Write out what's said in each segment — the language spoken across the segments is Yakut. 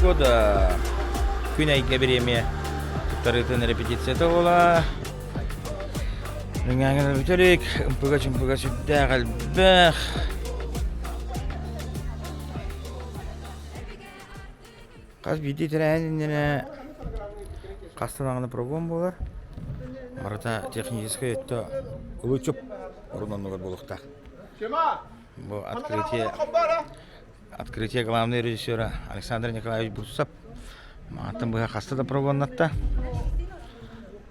года күн айга беремия туттарыытын репетицията буола Үңәңін бүтерик, ымпыга чымпыга сүрдээх әлбэх. Хас биирдии тэрээһин иннинэ хаста даҕаны пробуом буолар. Барыта техническэй өттө кылычып орун оннугар буолуохтаах. Бу открытие открытие главный режиссера Александр Николаевич Бурцев маҕатан быһа хаста да пробуоннатта.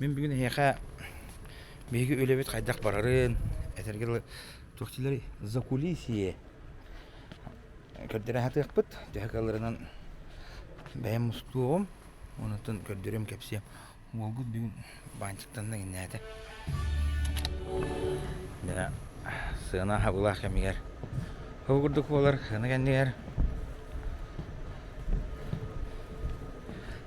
Мин бүгүн эһиэхэ биһиги үлэбит хайдах барарын, этэргэ дылы туох диилэр закулисье көрдөрө сатыахпыт. Төһө кыалларынан бэйэм мустуом, онутун көрдөрүм, кэпсиэм. Уолгут бүгүн баанчыктанна иҥнээтэ. Дьэ, сыана хабылаах кэмигэр ол курдук буолар, сыана кэннигэр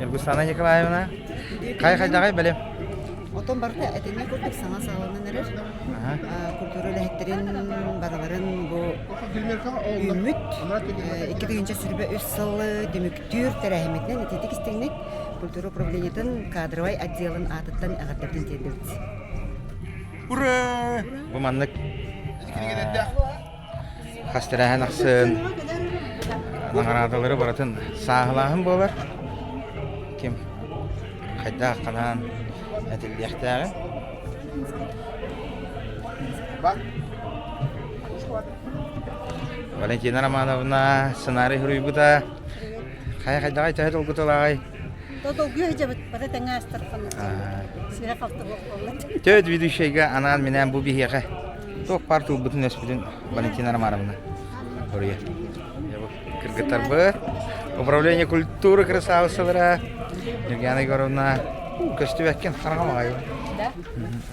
Иргустана Николаевна, хай-хайдаҕай бэлим? Оттон барыта этиҥҥэ курдук саҥа саҕаланан эрэр. Культура үлэһиттэрин барыларын бу үүммүт икки тыһыынча сүрбэ үс сыл түмүктүүр тэрээһиммитинэн итиитик-истиҥник культура управлениетын кадровай отделын аатыттан эҕэрдэбитин тиэрдэбит. Ура! Бу маннык. хас тэрээһин ахсын наҕараадалары барытын сааһылааһын буолар ким хайдах ханан этиллиэхтээҕин Валентина Романовна сценарий суруйбута хайа хайдаҕай төһө долгуталааҕай Төрүт ведущайга анаан минээн бу биһиэхэ туох паар турбутун өспүтүн Валентина Романовна хоруйа. Кыргыттарбыт, управление культуры красавицалара Нургиана Егоровна көстүбэккин хараҕам аҕайы.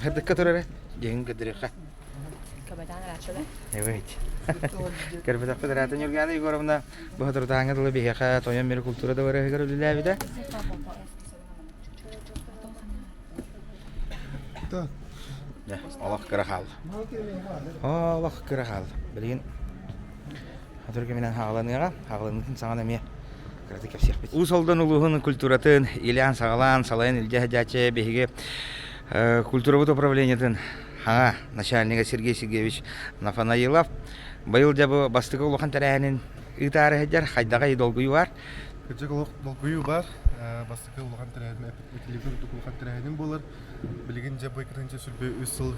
Хардыкка турары дегин көдүрүхэ. Көрбөтөхпүт Рата Нюргана Егоровна Бахатурутааҥҥа дылы биһиэхэ тойон мире култуура дабарыһыгар үлэлээбитэ. Олох кыра хаал. Олох кыра хаал. Билигин Хатур кэминэн хааланыаҕа. Хааланыытын саҥан эмиэ кыратык кэпсиэхпит. Уус Алдан улууһун культуратын Ильян Сагалаан салайан илдьэ садьааччы биһиги культурабыт управлениетын Ха, начальнига Сергей Сергеевич Нафанаилов быйыл дьабы бастакы улахан тэрээһинин ыытаары сылдьар хайдаҕый долгуйуу баар? Кырдьык олох долгуйуу баар. Бастакы улахан тэрээһин, телевизор үрдүк улахан тэрээһинин буолар. Билигин дьабы кытынча сүрбэ үс сыл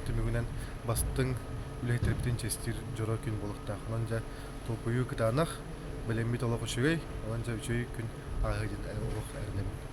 түмүгүнэн бастыҥ үлэһиттербитин честир дьоро күн буолуктаах. Онон дьа толкуйу кытаанах, білэммит олох үчүгэй, онон дьа үчүгэй күн ааһы диэн олох эрэнэбин.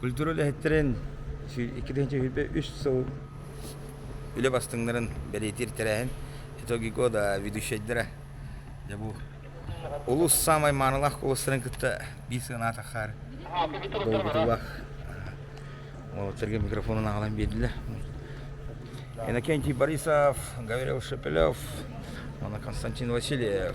Культура үлэһиттэрин иккитинчи сүүрбэ үс сыл үлэ бастыҥнарын бэлиэтиир тэрээһин итоги года ведущайдара дьэ бу улус саамай маанылаах куоластарын кытта биир сыана таххаар долгутуулаах уолаттарга микрофонун аҕалан биэрдилэр Иннокентий Борисов, Гавриил Шепелев, Константин Васильев.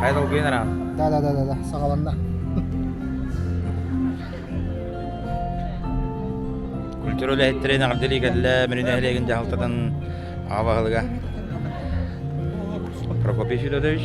Хайа долгуйан араҕан. Да да да да да саҕаланна. Культура үлэһиттэрин аҕардылыы кэллэ Мүрүн нэһилиэгин дьаһалтатын аҕа баһылыга Прокопий Федотович.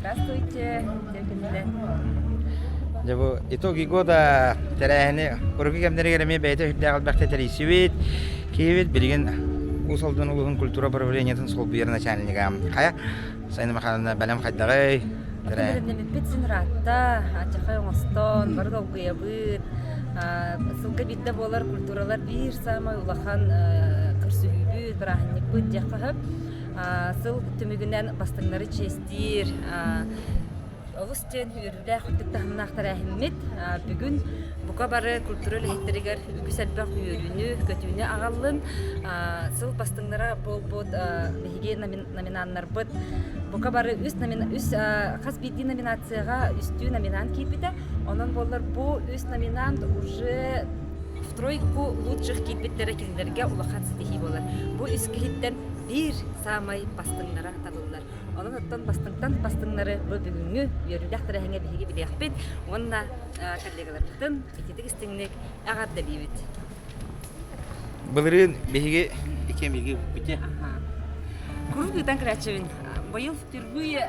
Здравствуйте. Дьэ бу итоги года тэрээһини куруку кэмнэригэр эмиэ бэйэтэ үрдээх албакта тэрийсибит. Киэбит билигин Уус Алдан улууһун культура управлениетын солбуйар начальнига. Хая Сайна Махановна бэлэм хайдаҕый? Тэрээһиннэммиппит син ыраатта, ачахай оҥостон, бары долгуйабыт. Сылга биирдэ буолар культуралар биир саамай улахан көрсүһүүбүт, бырааһынньыкпыт диэххэ сөп. сыл түмүгүнэн бастыҥнары чиэстиир олус диэн үөрүүлээх үрдүк таһымнаахтар эһиммит бүгүн бука бары культура үлэһиттэригэр үгүс элбэх үөрүүнү көтүүнү аҕаллын сыл бастыҥнара буолбут биһиги номинааннарбыт бука бары үс, номин, үс хас биирдии номинацияҕа үстүү номинаан киирбитэ онон буоллар бу үс номинаант уже Стройку лучших киирбиттэрэ кинилэргэ улахан ситиһии буолар. Бу искиһиттэн биир саамай бастыҥнара табыллар. Онон оттон бастыҥтан бастыҥнары бу бүгүҥҥү үөрүүлээх тэрээһиҥҥэ биһиги билиэхпит уонна коллегаларбытын ититик истиҥник эҕэрдэлиибит. Былырыын биһиги икки эмиги бүппүтэ. Куруук ыытан көрөөччүбүн. Быйыл түрбүү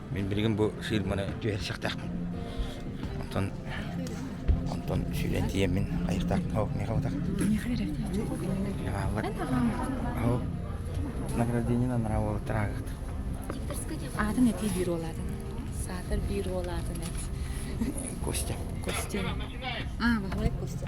Мин билигин бу фирманы түһэрсиэхтээхпин. Онтон онтон сүүрэн тиийэммин хайыахтаахпын һау миэхэ батах. Миэхэ берет. Ааллар. Һау. Награждение на нраву трагах. Атын эти биир олатын. Саатар биир олатын эт. Костя. Костя. Баһылай Костя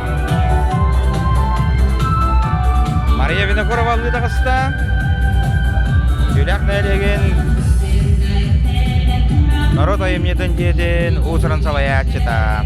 Мария Винокуровалыы таҕыста. Дьүлэх нэлегин Народ айымньытын дьиэтин уусуран салайааччыта.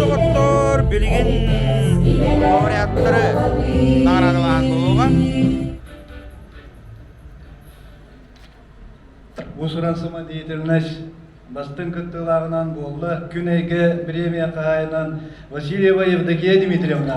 доҕоттоор билигин лауреаттары наҕараадалааһын буолуоҕа Усура самодеятельность бастыҥ кыттыылааҕынан буолла күн эйгэ бириэмийэ хаһаайынан Васильева Евдокия Дмитриевна.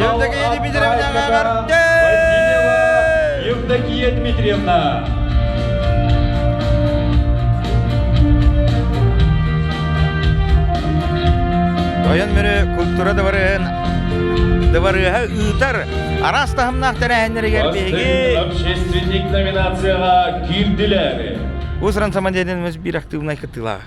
Евдокия Дмитриевна Мамарте! Евдокия Дмитриевна! Тойон Мүрү культура дыбарыһын дыбарыаһа ыытар араас таһымнаах тэрээһиннэригэр биһиги общественник номинацияҕа киирдилэр. Усран самодеятельность биир активнай кытыылаах.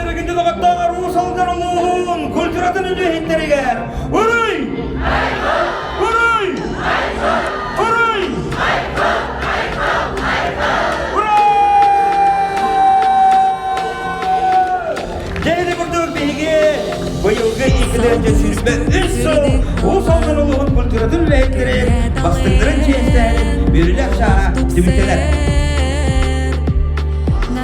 Төргүтү доҕоттоох аруу солдор улууһун культуратын үлүһүттэригэр уруй! Уруй! Уруй! Дьэһили курдук биһиги быйылгы иккилэргэ сүүрбэ үс сыл Уус Алдан улууһун культуратын үлэһиттэрин бастыҥнарын чиэстээн бүрүлэр шааһа түмүктэнэр.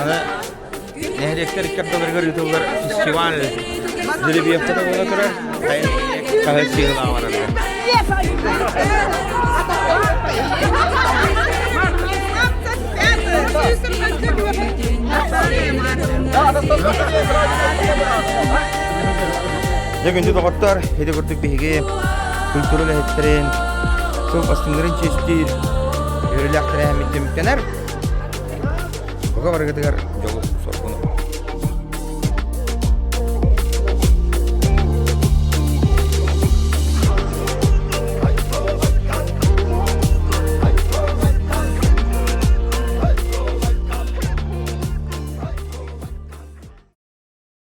Аны нэһилиэктэр икки ардыларыгар ыытыллар фестиваль Жеребьевката буола турар, хайын хаһыат сыыһылаах Дьэ күндү доҕоттор, ити курдук биһиги культура үлэһиттэрин сыл бастыҥнарын честиир үөрүүлээх тэрээһиммит түмүктэнэр. Бука барыгытыгар дьолу-соргуну